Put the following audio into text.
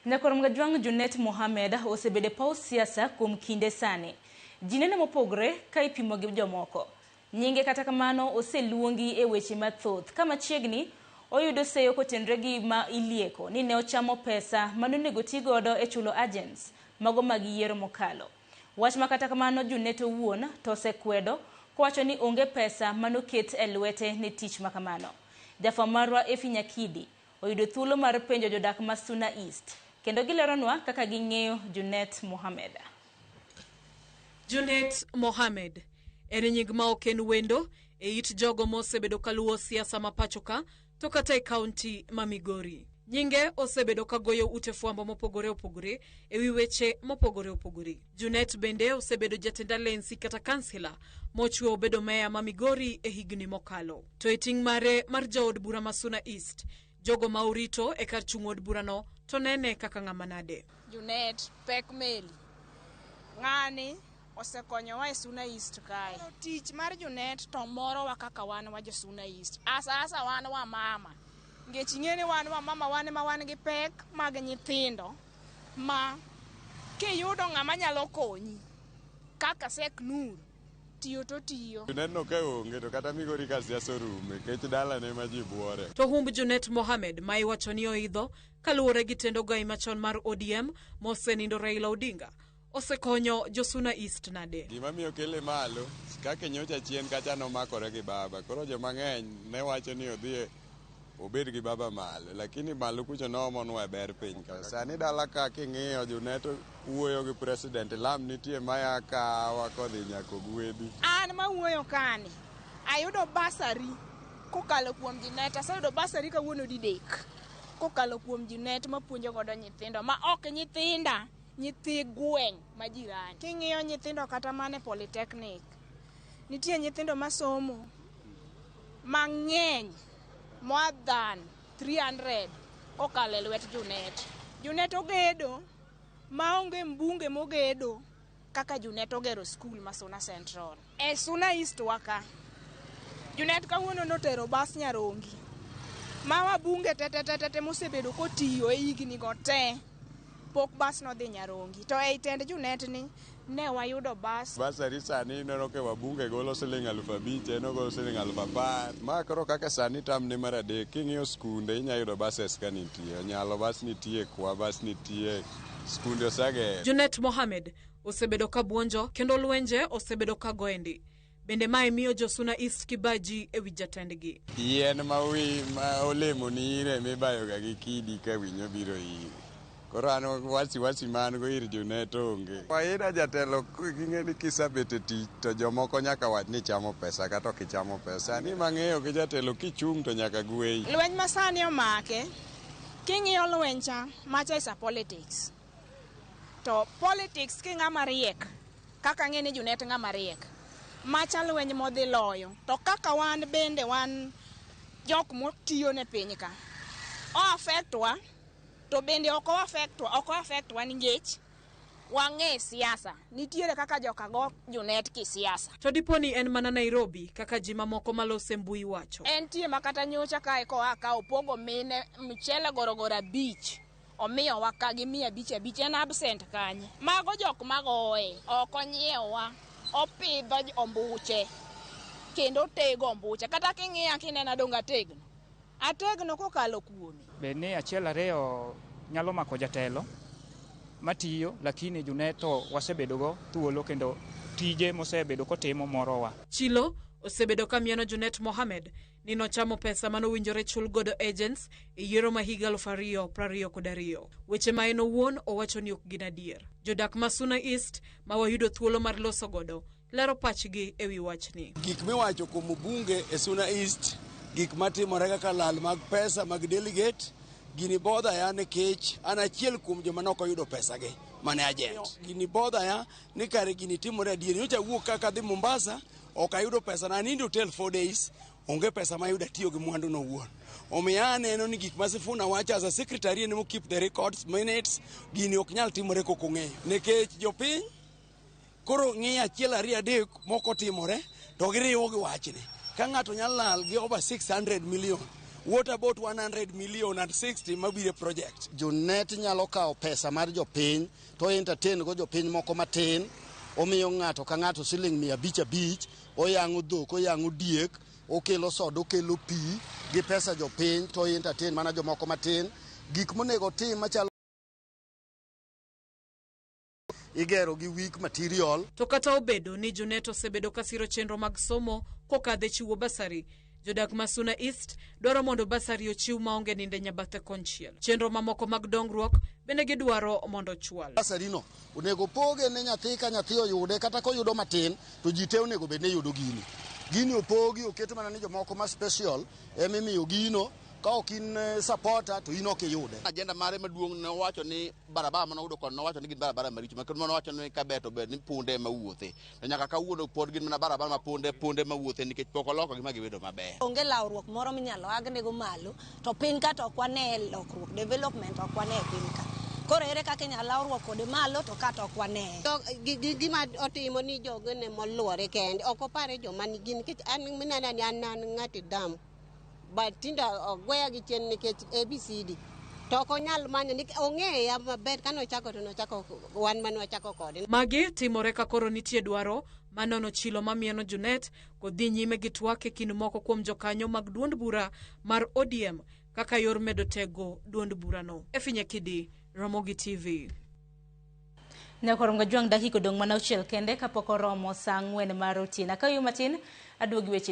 Nyakormgajwang' Junet Mohamed osebedo e paw siasa kuom kinde sani. Ji nene mopogre ka ipimo gi jomoko. Nyinge kata kamano oseluongi e weche mathoth ka machiegni oyudo seyo kotenre gi ma ilieko ni ne ochamo pesa ma nonego ti godo e chulo agents mago mag yiero mokalo. Wach ma kata kamano Junet owuon to osekwedo kowacho ni onge pesa manoket e lwete ne tich makamano. Jafwamb marwa Effie Nyakidi oyudo thuolo mar penjo jodak ma Suna East kendo gileronwa kaka ging'eyo Junet Mohamed. Junet Mohamed en nying ma ok en wendo e it jogo mosebedo kaluwo siasa ma pachoka to kata e kaunti ma Migori. Nyinge osebedo kagoyo ute fwambo mopogore opogore e wi weche mopogore opogore. Junet bende osebedo jatend alensi kata kansila mochwe obedo meya ma Migori e higni mokalo. To e ting' mare mar jaod bura ma Suna East, jogo ma orito e kar chung' od burano to nene kaka ng'ama nade? Junet pek meli. Ng'ani osekonyowa e Suna East kae. Koro tich mar Junet to morowa kaka wan wa jo Suna East. Asa asa wan wamama. Ngech ing'e ni wan wamama wan ema wan gi pek mag nyithindo. ma kiyudo ng'ama nyalo konyi kaka Sheikh Nur tiyo to tiyo. Juneno ka onge to kata migori ka siasa orume kech dalane ma ji buore. To humb Junet Mohamed ma iwacho ni oidho kaluwore gi tend ogai machon mar ODM mosenindo Raila Odinga Osekonyo Josuna East nade? Gima miyo kele malo, kaka nyocha chien kacha nomakore gi baba. Koro joma ng'eny ne wacho ni odhi obed gi baba malo, lakini malo kucho noomonwa e ber piny ka. Sani dala ka king'iyo Juneto wuoyo gi president, lam nitie maya kawa kodhi nyako gwedhi. An ma wuoyo kani, ayudo basari kokalo kuom Junet, aseyudo basari kawuono didek kokalo kuom Junet mapuonjo godo nyithindo ma ok nyithinda. Nyithi gweng' ma jirani. King'iyo nyithindo kata mana e polytechnic, nitie nyithindo masomo mang'eny more than 300 kokalo e lwet Junet. Junet ogedo maonge mbunge mogedo kaka Junet ogero skul ma Suna Central. E Suna East wa ka, Junet kawuono notero bas Nyarongi ma wabunge tetetetete mosebedo kotiyo e higni go te pok bas nodhi Nyarongi to ei tend Junet ni ne wayudo bas. Basari sani ineno ka wabunge golo siling alufu abich en ogolo siling alufu apar. Ma koro kaka sani tam ne mar adek king'iyo skunde inya yudo bases ka nitie. Onyalo bas nitie, kwa bas nitie, skunde osegero. Junet Mohamed osebedo ka buonjo kendo lwenje osebedo ka goye ndi. Bende mae miyo Josuna East kibaji e wi jatendgi. Yien ma wi ma olemo ni ire mibayoga gi kidi ka winyo biro iri. Koro an wasi wasi ma an go ir Junet onge. Kawaida jatelo ging'e ni kisebet e tich to jomoko nyaka wach ni ichamo pesa kata ok ichamo pesa. Sani mang'eyo gi jatelo kichung' to nyaka gweyi. Lweny masani omake, king'iyo lweny cha, macha is a politics. To politics ki ng'ama riek kaka ang'e ni Junet ng'ama riek macha lweny modhi loyo to kaka wan bende wan jok motiyo ne piny ka o affect wa to bende ok o affect wa ok o affect wa nikech wang'e siasa nitiere kaka joka go Junet ki siasa To dipo ni en mana Nairobi kaka ji mamoko malose mbui wacho. en tie makata nyocha kae koa ka opogo mine mchele gorogoro abich Omiyowa ka gi mia abich abich en absent kanye? Mago jok magoye. Ok onyiewa. Opidho ombuche. Kendo otego ombuche. Kata king'iya kinena donge ategno? Ategno kokalo kuome. Bed ni achiel ariyo nyalo mako jatelo matiyo lakini Junet to wasebedo go thuolo kendo tije mosebedo kotimo morowa. Chilo osebedo ka mieno Junet Mohammed ni nochamo pesa mane owinjore chul godo agents e yiero ma higa aluf ariyo prariyo kod ariyo. Weche ma en owuon owacho ni ok gin adier. Jodak ma Suna East ma wayudo thuolo mar loso godo lero pachgi e wi wachni. Gik miwacho kuom bunge e Suna East, gik matimore kaka lal mag pesa mag delegate, gini bodha ya nikech an achiel kuom joma ne ok oyudo pesagi mane agent. Gini bodha ya ni kare gini timore adier. Nyocha awuok kaka adhi Mombasa Ok ayudo pesa na nindo hotel four days. Onge pesa mayudo atiyo gi mwandu no wuon. Omiyo aneno ni gik ma Sifuna wacho as a secretary en keep the records minutes gini ok nyal timore kok ong'eyo. Nekech jopiny koro ng'iyo achiel ariyo adek moko timore to giriwo gi wachni. Ka ng'ato nyalo lal gi over 600 million. What about 100 million and 60 mabire project? Jonet nyalo kawo pesa mar jopiny. to entertain go jopiny moko matin omiyo ng'ato ka ng'ato siling mia abich abich oyang'o dhok oyang'o diek okelo soda okelo pi gi pesa jopiny to entertain mana jomoko matin gik monego tim machalo igero gi weak material To kata obedo ni Junet osebedo ka siro chenro mag somo kokadho e chiwo basari, Jodak ma Suna East dwaro mondo basari ochiw maonge ninde nyabathe konchiel. Chenro mamoko mag dongruok bende gidwaro mondo ochwal. Basarino onego opoge ne nyathi ka nyathi oyude kata koyudo matin to ji te onego bed ni yudo gini. Gini opogi oket mana ni jomoko ma special emimiyo gino ka ok in eh, supporter to in ok iyude. Ajenda mare maduong' ne owacho ni barabara mane oyudo kod nowacho ni gin barabara maricho makendo mane owacho ni kaber to ber ni punde ema wuothe. to nyaka kawuono pod gin mana barabara ma punde punde mawuothe nikech pok olokogi ma gibedo maber. Onge lawruok moro minyalo agnego malo to piny ka to ok wane lokruok development ok wane e piny ka. Koro ere kaka inyalo lawruok kode malo to ka to ok wane. To gi- gi- gima otimo ni jogene moluore kende ok opare joma nigi nikech an minanani an an ng'ati damu but tinde ogweya gi chien nikech ABCD to ok onyal manyo nikech ong'eya maber kane ochako to nochako wan mane wachako kode. Magi timore ka koro nitie dwaro manono chilo mamieno Junet kodhi nyime gi twak e kind moko kuom jokanyo mag duond bura mar ODM kaka yor medo tego duond burano. Efinya Kidi, Ramogi TV. Nyakoro ngajwang' dakika odong' mana auchiel kende kapok oromo saa ang'wen mar otieno. Akawiu matin aduogi weche